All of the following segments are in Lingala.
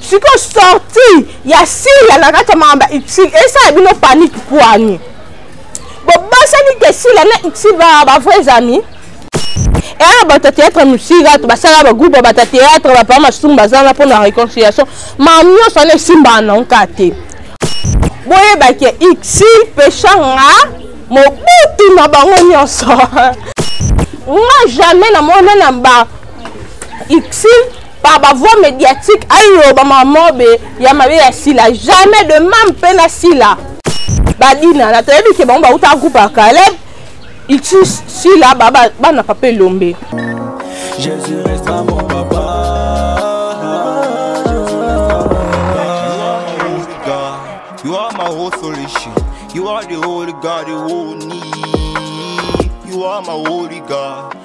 sikoyo sorti ya sila na kati ya makambo ya uxil esala bino panike pwani bobosani te sila na uxil baa bavrais amis eya bato ya théâtre mosika to basala bagroupe ya bato ya théâtre bapaa masumu baza na mpona réconciliation makambo nyonso wana esimbaka na nka te boyebaki ixi peshanga mobutu na bango nyonso nga jamais namona na ba ixi par ba voix médiatique aloba mamobe ya mabe ya sila jamais de mame mpe na sila badinana toyebi ke bango bauta groupe ya caleb ici sila bana papa elombe Jésus restera mon papa You are my whole solution. You are the holy God, the only. You are my holy God.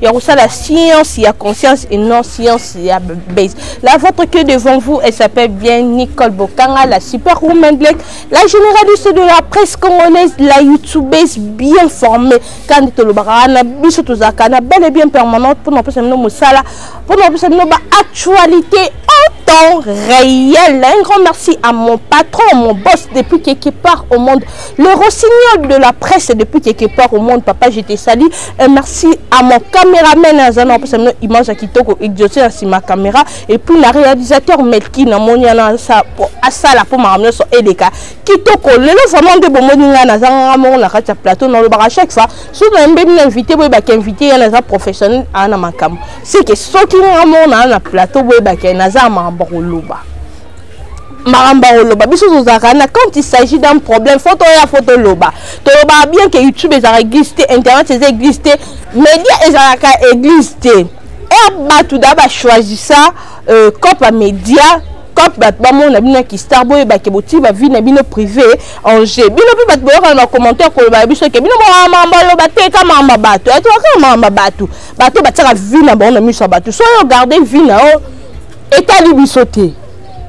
ya kosala science ya conscience et non science ya base la votre que devant vous elle s'appelle bien nicole bokanga la super woman black la généraliste de la presse congolaise la youtubeuse bien formée kandi tolobaka wana biso tozalaka na bel et bien permanente mpona kopesa bino mosala mpona kopesa bino baactualité en temps réel un grand merci à mon patron mon boss depuis quelque part au monde le rossignol de la presse depuis quelque part au monde papa je te salue Et merci à mon caméraman Azana pour cette image à Kitoko exaucé ainsi ma caméra et puis le réalisateur Melki na moni ana sa à ça la pour ma ramener sur Eleka Kitoko le le vraiment de bon moni na zanga mon la katia plateau dans le bar à chaque fois si vous avez bien invité vous avez invité il y a un professionnel à na makam c'est que ce qui na mon na plateau vous avez un azar ma boloba makambo akoloba biso tozalaka na quand il s'agit d'un problème fo toya fo toloba tolobaka bien ke youtube ezalaka église te internet eza église te média ezalaka église te er bato da bachoisissa euh, cop ya média cop bato bamona bino ya kistar boyebake botii bavi na bino privé en jeu bino mpe bato boyoka na bacommentaire kolobaka biso ke bino makambo aloba te ka makambo ya bato yatoka kaka makambo ya bato bato batiaka vi na bango na miso ya bato soyo garde vi na yo etali biso te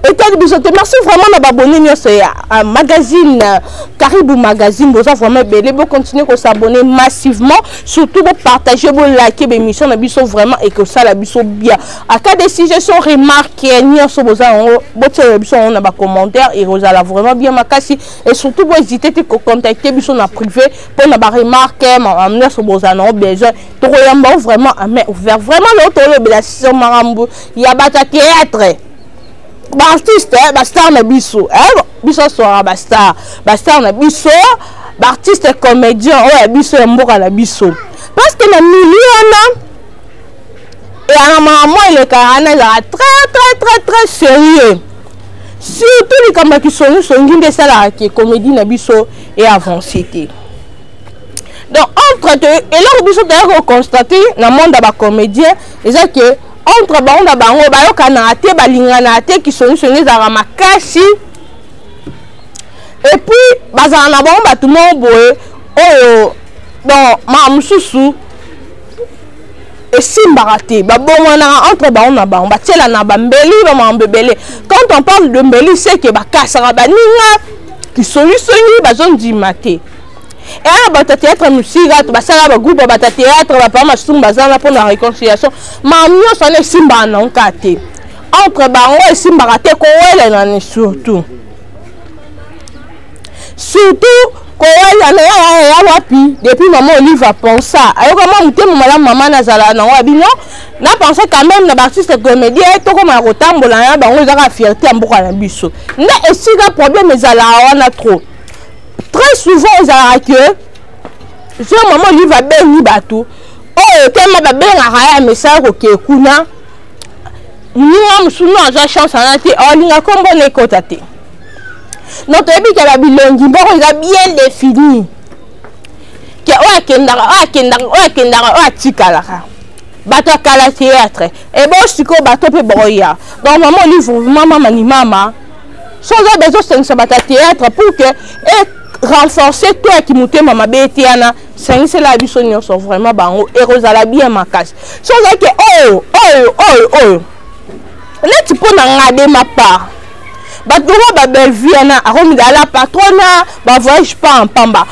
etali biso te merci vraiment na babone nyonso ya euh, magazine euh, karibu magazine boza vraiment ebele bocontinue kosabonne massivement surtout bopartage bolake bémission na biso vraiment ekosala biso bien aka des suggestion remarque euh, nyonso boza yango botiela biso yango na bacommentaire ekozala vraiment bien makasi et surtout bohésite te kocontacte biso na privé mpona baremarque nyonso boza nango besoin tokoyamba vraiment ame ouvert vraiment leo tolobela sur makambo ya bato ya théâtre baartiste eh, bastar na biso eh, biso aswaka bastar bastar na biso baartiste comédien oyo ya biso ya mboka na biso parce que na milieu wana eyanga mama elekaka wana ezalaka très très très très sérieux surtout likambo ya kisongisongi nde esalaka ke comédie na biso e avance te donc entre eloko biso toyaki koconstate na monde ya bacomédien eza ke entre bango na bango bayokanaka te balinganaka te kisongisongi ezalaka makasi epuis bazala na bango bato moko boye oyo bon maa mosusu esimbaka te babongwanaka entre bango na bango batielana bambeli bamakambo ebele quand on parle de mbeli seke bakasaka baninga kisolisoli bazondima te eaa eh, bato ya théâtre mosika to basalaka bagroupe ya bato ya théâtre bapaa masumu baza na mpona réconciliation ma nyonso wana esimbaka na nka te entre bango esimbaka te kowelelani surtout surtout kowelana ya wapi depuis mama olive apensa ayoka mwa motema malamu mama nazala nango ya bino na pense quand même na baartiste comédien tokoma ya kotambola na bango ezaka fierté ya mboka na biso nde esika problème ezalaka wana trop très souvent ezalaka que so mama olive abengi bato oyo ekema babengaka ya mesala kokee kuna moninga mosunu azwa chance wana te alinga nkombo na ekota te donc toyebi ke babilongi mboko eza bien défini ke oyo akendaka oyo akendaka oyo akendaka oyo atikalaka bato ya kala théâtre ebo sikoyo bato mpe bakoya donc mama olive vraiment mama ni mama soki oza bezo sengisa bato ya théâtre pour que e renforcer to ya kimotema mabe eteyana sengisela biso nyonso vraiment bango ekozala bien makasi so ozalaki oyo oyo oyo oyo neti mpo na nga de ma part bato moko babellevue wana akomidala patrona bavoyage pas en pamba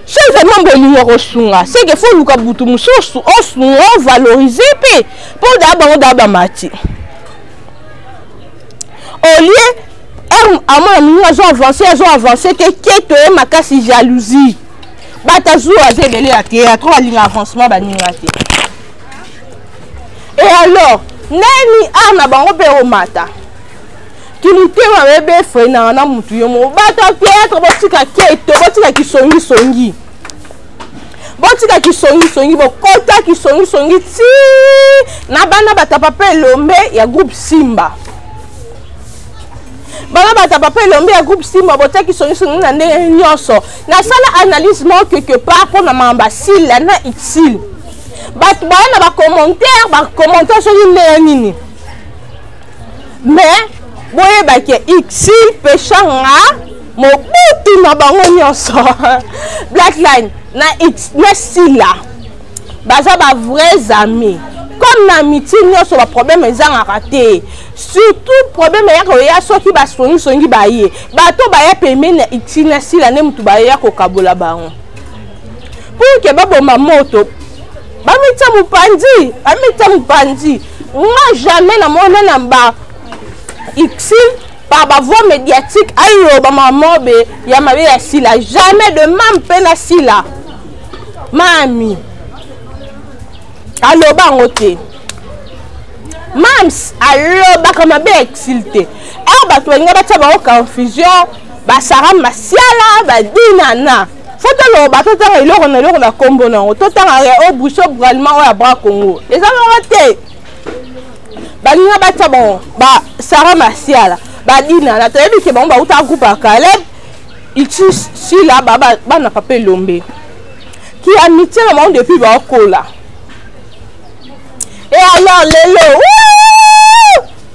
so ozali mambo olingi okosunga seke fo oluka butu mosusu osunga ovalorise mpe mpo daa bango daa bamati au lieu heure amona moninga azo avance azo avance te keto ye makasi jalousie bato azua aza ebele ya te atro alinga avancement baninga te e alors nani ar na bango mpe omata kimitema bebe efrenaka na motu yo moko bato ya théâtre botika keto botika kisongisongi botika kisongisongi bokota kisongisongi ti na bana batapa mpe elombe ya groupe simba bana batapa mpe elombe ya groupe simba botia kisongisongi na ndenge nyonso nasala analyse mo quelque part mpo na mama basila na utile bato baya na bacommentaire bacommentaire soki ndenge nini mais boyeba ke itil peshanga mobutu na bango nyonso blackline na, na sila baza ba vrais amis comme na miti nyonso baproblème ezangaka te surtout problème eyaka oya soki basongisongi baye bato baya pembeni ya itil na sila nde motu bayeya kokabola bango pour ke baboma moto bamita mopanzi bamita mopanzi nga jamais na mona na ba itil par ba voix médiatique ayo ba mamobe ya mabe ya sila jamais de mam pe na sila mami aloba yango te mams alobaka mabe ya exil te awa bato balinga batya bango confusion basara masiala badinana fo toloba totanga eloko na eloko na nkombo nango totanga ya o bouche braliment oyo ya bra congo eza moko te baninga batya bango ba sara masiala badinana toyebi ke bango bauta groupe ya caleb ici sila bana papa elombe ki amitié na bango depuis baokola e alors lelo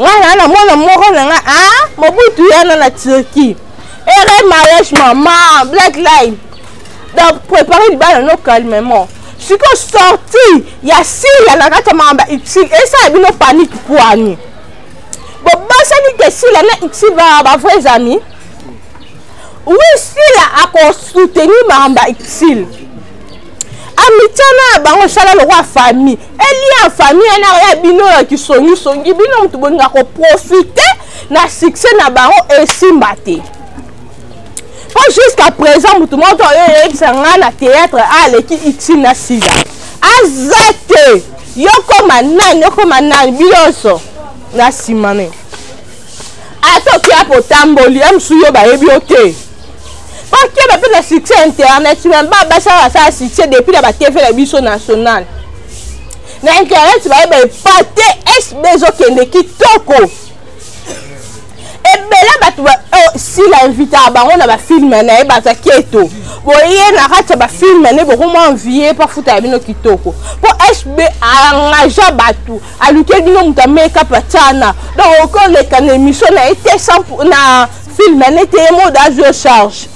ngai na na mwana moko na ngai a ah, mobutu yana na turquie ere mariage mama black line donc prépare libala no calmement sikoyo sorti ya sila na kati ya makambo ya utile esala bino panike pwani bobosani te sila na utile baa bavrais amis wi sila akosoutenir makambo ya utile amityana ya bango esala lokola famille elie ya famille wana ya bino ya kisongisongi bino moto bolinga koprofite na succès na bango esimba te mpo jusqu'à présent moto moko to oyo eyebisa ngai na théâtre aleki itine na sida aza te yokoma nani yokoma nani bino nyonso na nsima ne ata oki apo otamboli ya mosusu yo bayebi yo te bakeba mpe na succès ya internet meba basala basala succès depuis na batv na biso national na internet bayeba epate sb ezokende kitoko ebele bato oh, sila invitaka bango na bafilme na ye baza keto boye na kati ya bafilme ne bokomwa envie mpo afuta ya bino kitoko mpo sb engagea bato aluke bino moto ameka pachana donc okoleka na émission na ye te na film ne te ye mode azwi yo charge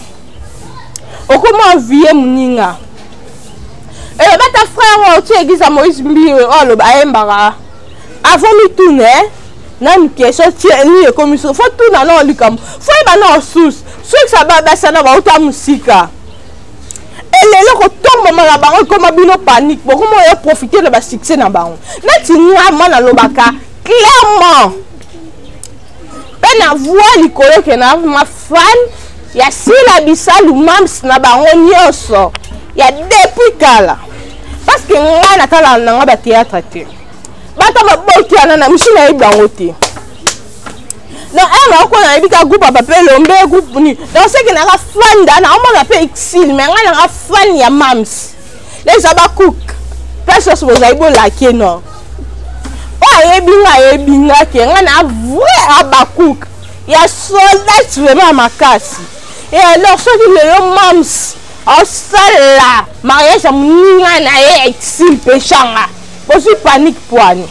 okoma envie moninga eloba ta frère oyo ti église ya moïse mbiwe oyo aloba ayembaka avant mitune eh? nanu question tie nini ekomi so fo tuna nao likambo fo yeba nao susu soki sa babasana bauta mosika elelo kotomboma na bango ekoma bino panique bokoma oyo profite na basuccès na bango neti nga ma nalobaka clairement mpe na voi likolo ke na mafan ya sila bisalu mams na bango nyonso ya depuis kala parce que ngai natalaka na ngai bateatre te bato babokiana na misu nayebi bango te na ere eh, oko nayebi ka groupe papa mpe lombe groupe nini donc seke nanga fan da naomona mpe exile mai ngai nanga fan ya mams leza bacook place nyonso bozali bolake no oyo oh, ayebi nga ayebi nga ke ngai na vrai abacook ya soldat vraiment makasi e alors soki lelo mams osala mariage ya moninga na ye exile mpe shanga bozwi panique poani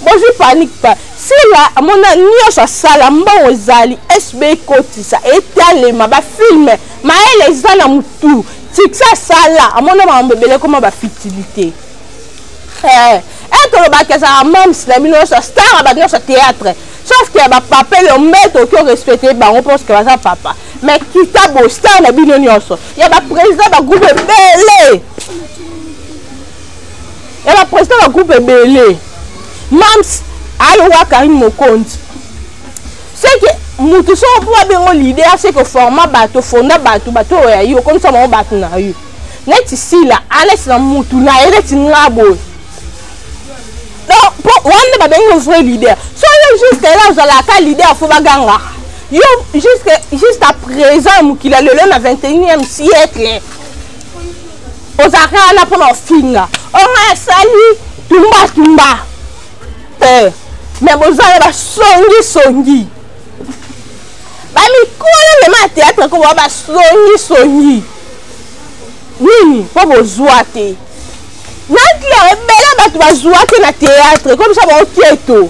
bozwi panique pa sila amona nyonso asala mbongo ezali sb ekotisa etalema bafilme mayele eza na motu tiksa asala amona makambo ebele ekoma bafitilité eh, etolobaki eh, ezalaka mams na bino nyonso star ya bato nyonso théâtre sauf ke bapapa elombe toki orespecte bango parce ke baza papa mais kita bostar na bino nyonso ya baprésident bagroupe ebele ya ba président ba groupe ebele mams alowa karine mokonzi seke motu soko mpo abengo leader seke forma bato fonda bato bato oyo ya yo okomisa bango bato na yo neti sila alesi na motu na ye neti nga boye po wana nde babengi yo vrai leader so yo juste ela ozalaka leader fo bagangaka yo jusqu'à présent mokili ya lelo na 21e siècle ozalaka wana mpo na ofinga onga esali tumbatumba te eh, me boza na basongisongi bamikolo mema ya teatre koboa basongisongi nini mpo bozwa te nankila ebele bato bazwa te na teatre komisa bango keto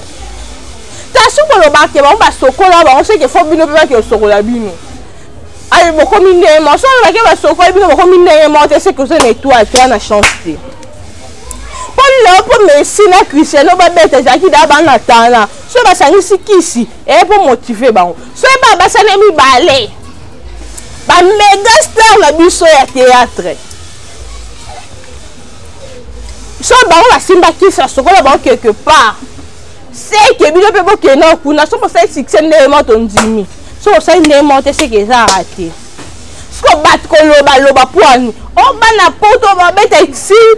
kasi koloba ke bango basokola bango seke fo bino mpe bake osokola bino ayi bokomi ndenge moko soki olobaki basokoli bino bokomi ndenge moko te seke oza na etoile te na chance te mpo lelo mpo messi na cristiano babeta ezalaki daa bana tana soki basangisi kisi eye mpo motive bango soki baa basani mibale bamega star na biso ya théâtre so bango basimbaki sa sokola bango quelque part seke bino mpe bokenda kuna soki osali succès ndenge moko tondimi soki osali ndenge moko te seke ezaka te siko bato kolobaloba pwani obana poto babeta exil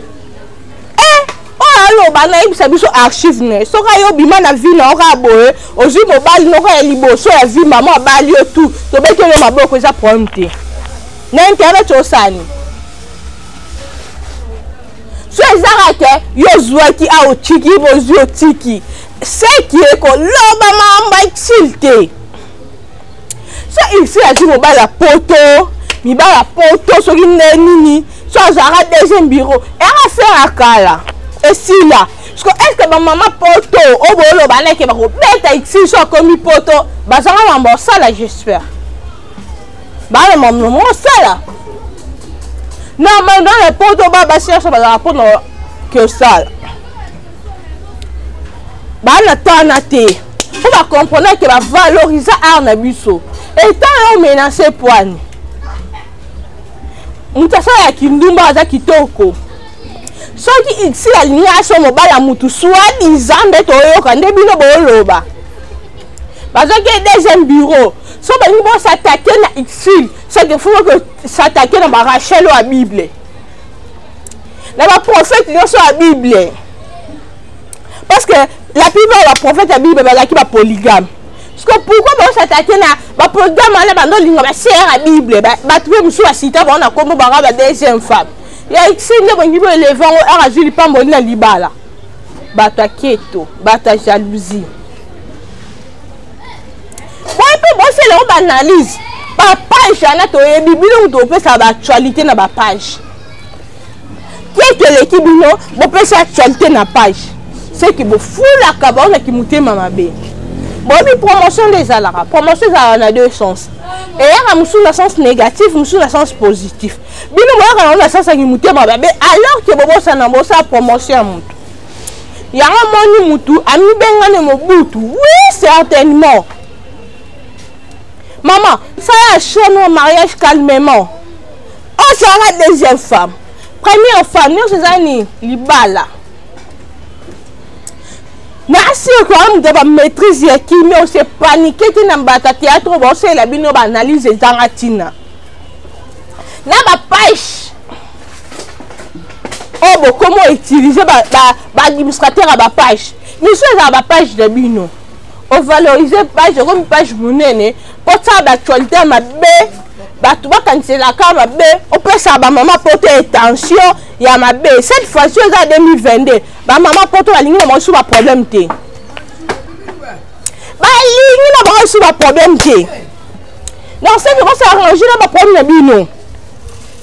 e eh, oyo aloba nayebisa biso archive ne soki ayo obima na vi na oka boye ozwi mobali noko ya liboso ya vi mama abali yo tu tobeti oyo maboko eza problème te na internet osani so ezaka ke yo ozwaki a otiki bozwi otiki seki ekoloba mamba itil te so isil azwi mobali ya poto mibali ya poto soki nde nini so azalaka deuxième bureau eyaka fere ya kala esila siko estce bamama poto oyo booloba neke bakobeta itil so akomi poto bazanga mambo osala j'espère bana mamno mosala normalement na poto ba basi nyonso bazala mpona kosala baa na tana te mpo bacomprendre ke bavaloriza art na biso etant yo menase poani moto asala ya kindumba aza kitoko soki isi alingi aso mobali ya motu swadisa nde toyoka nde bino booloba bazwaki ye deuxième bureau so balingi bosatake na exil seke fo ke satake na barachel oyo ya bible na baprofete nyonso ya bible parce que la plupart ya baprofete ya bible bazalaki bapoligame siko pourkoi baosatake na bapoligame wana bando olinga basere ya bible bato mpe mosusu basita bango na nkombo banga ba deuxième femme ya isi nde bolingi boeleve yango aka azwi lipamboli na libala bato ya keto bato ya jalousie boye mpe bosala yango baanalyse bapage wana toyebi bino moto bopesa baactualité na bapage te toleki bino bopesa actualité na page seki bofulaka bango na kimotema mabe boyebi promotion nde ezalaka promotion ezalaka na deux sens eyaka mosusu na sens négatif mosusu na sens positif bino boyaka yango na sens ya kimotema mabe alors ke bobosana bosala promotion ya moto yango omoni mutu amibengane mobutu oui certainement mama sala chono mariage calmement ozala oh, deuxième femme première femme nyonso eza nini libala nasi okoya moto bamaîtrise ya kimia ose panike te na mbata théâtre oyo baosalela bino baanalyse ezanga ntina na bapaishe oyo bokomi outilize baadministrateur ya bapage misu ezala bapage na bino ovalorise page okomi page monene kotala baactualité ya mabe bato bakaniselaka mabe opesaka bamama poto etention ya mabe cette fois-ci eza 2022 bamama poto balingi na bango su baproblème te balingi na bango su baproblème te donc soki kosala range na baproblème na bino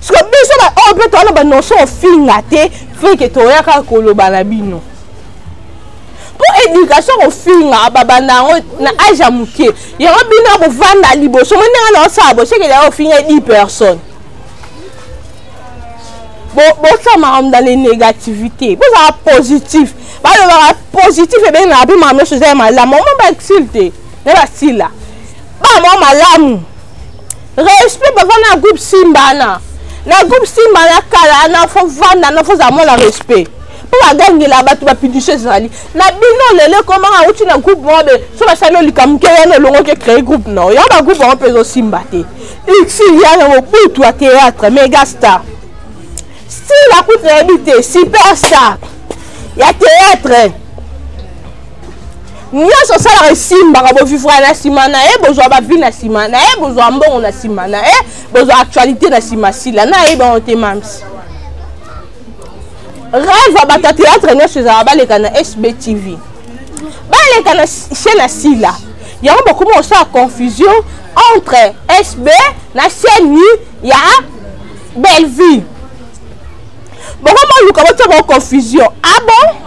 siko biso baoyo mpe towana banoso ofinga te feke toyaka koloba na bino mpo éducation kofinga babanda yango na age ya moke yango bino ya kovanda liboso mo ndenge naosala bosekeli ya ofinga 10 personnes bosala makambo na le négativité bozala positif balobaka positif ebengaka mpe makambo nyonso eza ya malamu omo basile te na basila ba mwa malamu respect baza na groupe simbana na groupe simbana kala na fo vanda na fo za mwa na respect mpo bagangela bato bapidisio ezali na bino lelo ekomaka auti na groupe moko be so basali olika moke wana olongoki ecree groupe na oyo bagroupe yango mpe ezosimba te uxil yana mobutu ya théâtre megastar style akuti nayebi te superstar ya théâtre nyonso osalaka esimbaka bovivra na nsima na ye bozwa bavi na nsima na ye bozwa mbongo na nsima na ye bozwa actualité na nsima sila na ye bango te mamsi rêve ya bato ya théâtre nyonso ezala baleka na sb tv baleka na chaîne ya sila yango bakomi kosala confusion entre sb na chaîne ya bellevue bokomi oluka botya bango confusion abo ah bon?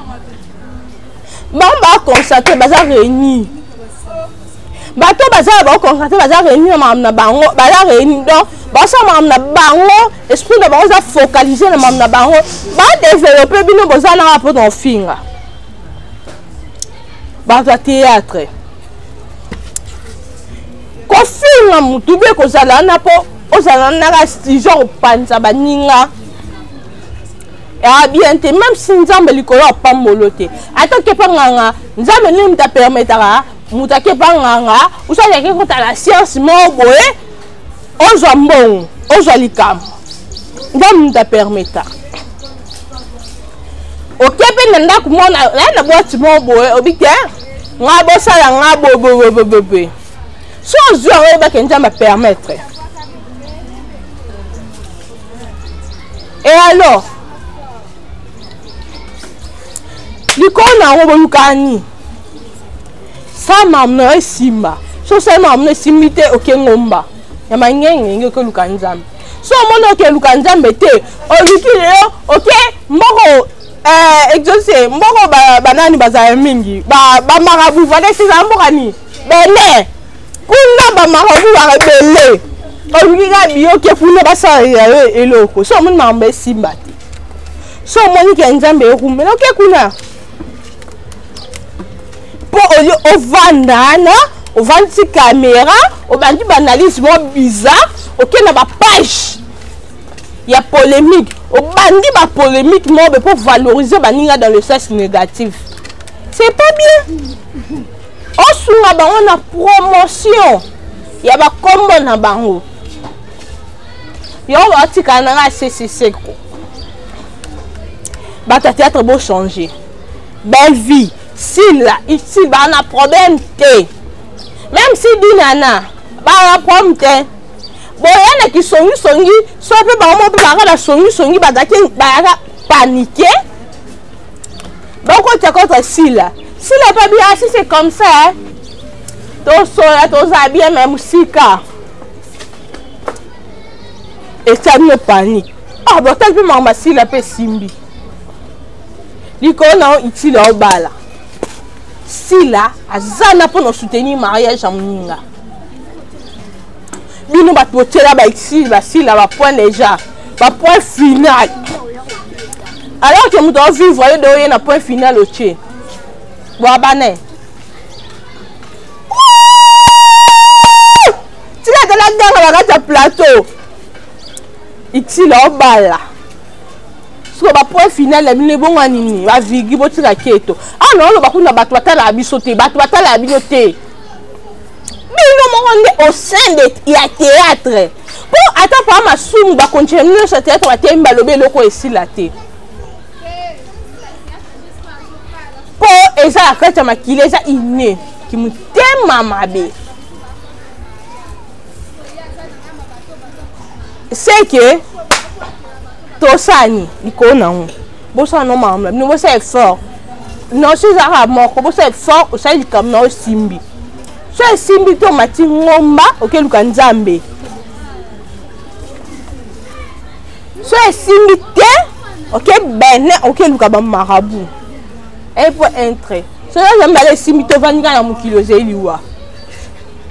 bango baconcentre baza réunir bato baza na baconcentre baza réunir na makambo na bango baza réunir donc basala makambo na bango esprit na bango eza focalise na makambo na bango badeveloppe bino boza nanga mpo na kofinga bato ya théâtre kofinga motu mpe kozala wana mpo ozala naka genre opanza baninga Ah, bien te même si nzambe likolo apambolo te ata kepa nganga nzambe nini moto apermetaka moto akepa nganga osali ake kotala science moko boye ozwa mbongo ozwa likambo nzambe moto apermetaka oke mpe na ndako moko naye na bwati moko boye obi te nga bosala nga bobobobobobe so ozwi yango oyebake nzambe apermettre e alors likolo na yango bolukani sa mamu na yo esimba so osali mamu na esimbi te oke ngomba ya mangengenge oke oluka nzambe so omoni oke luka nzambe te oluki lelo oke mboko eh, exauce mboko banani ba bazala mingi bamarabu ba valesi ezala mboka nini bone kuna bamarabu baka ebele olingi kaka biyoke kuna basalela yo eloko so omoni makambo esimba te so omoni ke nzambe ekumela oke kuna mpo oli ovanda wana ovandisi kamera obandi baanalyse mwa bizarre oke na bapage ya polémique obandi bapolémique mobe mpo valoriser baninga dans le sens négatif c'est pas bien osunga bango na promotion ya bakombo na bango yo batikala na ngai sese seko bato ya théâtre bochange belle vie sila isil baa na problème te même si dinana baa na problème te boya na kisongisongi so mpe bango mpe baka na songisongi bazalaki bayaka panike bakotya kota sila sila pa bien asi c'est comme ça hein? tosola toza bien me mosika etyami no panique ah botali mpe makambo asila mpe esimbi likolo na yo itila obala sila aza na mpo na soutenir mariage ya moninga bino bato botyela baexil basila bapoint déjà bapoint final alors ke moto aovivre yo de oye na point final otye boabane tika tala ganga na kati ya plateau exil aobala sikoyo bapoint final ya bino ebongo nini bavigi botika keto awa ah, naoloba kuna bato batalaka biso te bato batalaka bino te bino moko nde au sein de ya théâtre mpo ata paa masumu bakontina bino nyonso ya théâtre bateyemi balobi eloko esila te mpo eza na kati ya makili eza ine kimotema mabe seke tosani likolo na yango bosala no makambo na bino bosala effort nosi ezalaka moko bosala effort osali likambo na yo esimbi so esimbi te omati ngomba okeluka nzambe so esimbi te oke bene okeluka bamarabu epo entre so yo nzambe ala esimbi te ovandi kaka na mokili ozali liwa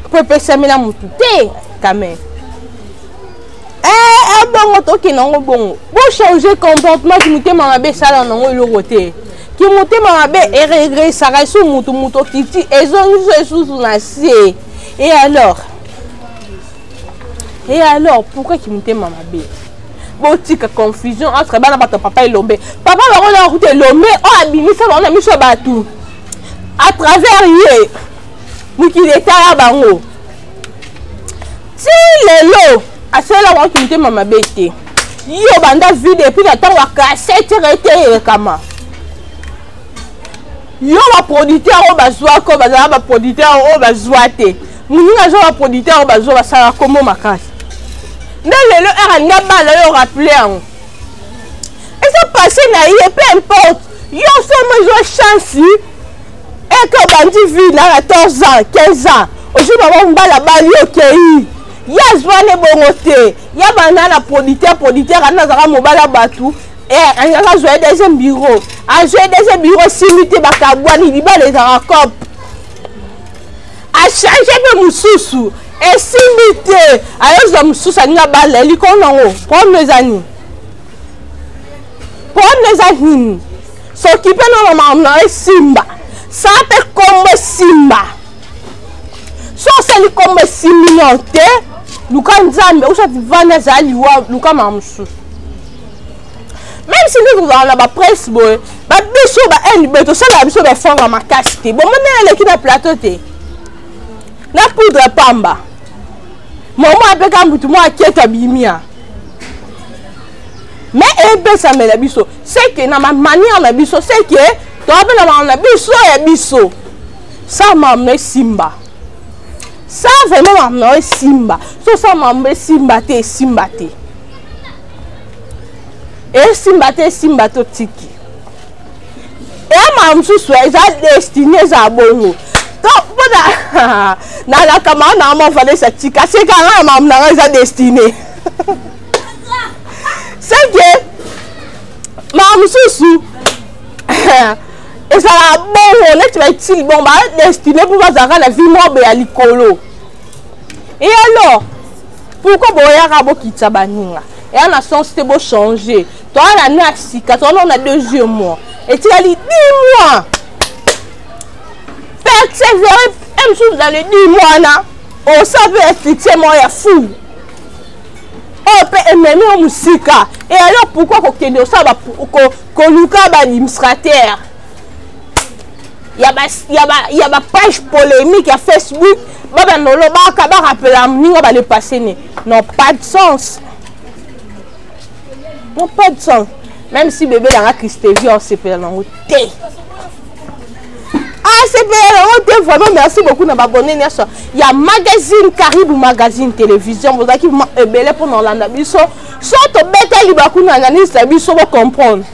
mpo epesamela motu te kame eh, eh, bongo tokende yango bongo bochange comportement kimotema mabe esala nango eloko te kimotema mabe eregresaka esu motu motu okiti ezongisi esusu na se e alors e alors pourquoi kimotema mabe botika confusion entre bana bato ya papa elombe papa bango na kuta elombe oyo abimisa bango na miso ya bato à travers ye mokili etala bango ti lelo asalela wantu motema mabe te yo banda vide epuis na ntango ya kasete rete elekama yo baproducteur oyo bazwaka oyo bazala baproducteur oyo bazwa te moninga azwa baproducteur oyo bazwa basala kombo makasi nde lelo ere alingi abala yo rappele yango eza passe na ye peu importe yo somo ezwa chance eke obandi vie na 14 ans 15 ans ozwi bango mbala abali okei ye azwi wana ebongo te ya banda na producteur producteur ana azalaka mobala bato azalaka azwa ye deuxième bureau azwa ye deuxième bureau esili te bakabwani libala ezalaka cop achange mpe mosusu esimbi te ayozwa mosusu alingi abala elikolo nango problème eza nini problème eza nini S'occuper na maman na yo esimba. Ça pe kombo esimba. So osali kombo esimbi nao te, luka Nzambe, ou soit vanda za liwa, luka ma mosusu. Même si nous avons la presse boy, ba biso ba haine beto ça la biso ba fanga makasi te. Bon mona eleki na plateau te. Na poudre pamba. Maman apeka mutu mwa keta bimia. mais epesamela biso seke na manière na biso seke tobela makambo na biso ya biso sa makambo na esimba sa vraimen makambo na yo esimba so sa makambo esimba te esimba te esimba te esimba te otiki eya makambo mosusu eza destine eza bongo mpona nalaka makambo na yo mavalesa tika seka nga na makambo na nga eza destine seke makambo mosusu ezalaka bongo neti baitili bongo badestine mpo bazalaka na vie mobe ya likolo e alors pourkoi boyaka bokitisa baninga eya na sens te bochange toa na na sika toa nao na deuxième mois etikali dix mois persévere msusu dans le dix mois na osa mpe ya succès moko ya fou oyo mpe ememi yo mosika eyayo pourkui kokende osala koluka baadministrateur ya bapage polémique ya facebook babanda olobaka barapela moninga balepase ne non pas de sens non pas de sens même si bebe yanga christevie osepela nango te acpr ah, ote oh, vraiment merci beaucoup na babone nyonso ya magazine karibu magazine télévision bozalaki ebele eh, mpo na olanda biso so tobeta liba kuna analyse na biso bocomprendre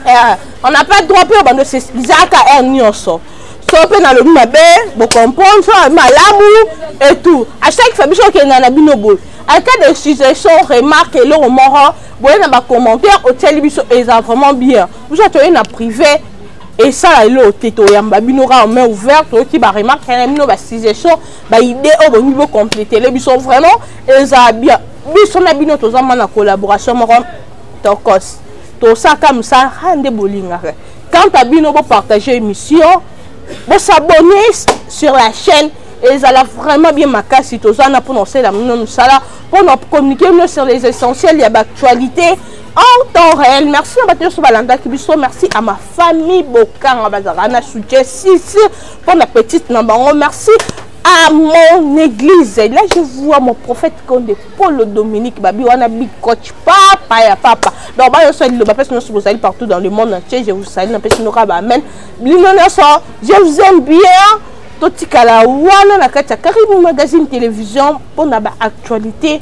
eh, on n'a pas droit mpe obando ezalaka r nyonso so mpe nalobi mabe bocomprendre so malamu et tout à chaque fois biso okenda na bino boye en cas de suggestion remarque eloko moko boye na bacommentaire otieli biso eza vraiment bien biso toye na privé esala eloko te toyamba bino kaka main ouverte toyoki baremarke na bino basuggestion baidée oyo bolingi bocompletele biso vraiment ezala bien biso na bino toza mwana collaboration moko tokos tosalaka mosala aa nde bolingaka quant à bino bopartage émission bosabonne sur la chaîne ezala vraiment bien makasi toza na mpona osalela bino mosala mpona communiquer bino sur les essentiels ya baactualité en temps réel merci na bato nyonso balandaki biso merci à ma famille bokanga bazalaka na soutien sisi mpo na petite na bango merci à mon église là je vois mon prophète konde polo dominique babi wana big coach papa ya papa donc ba nyonso liloba mpesi nyonso bozali partout dans le monde entier je vous salue napesi noka ba amen lino nyonso je vous aime bien totikala wana na kati ya carine magazine télévision mpo na baactualité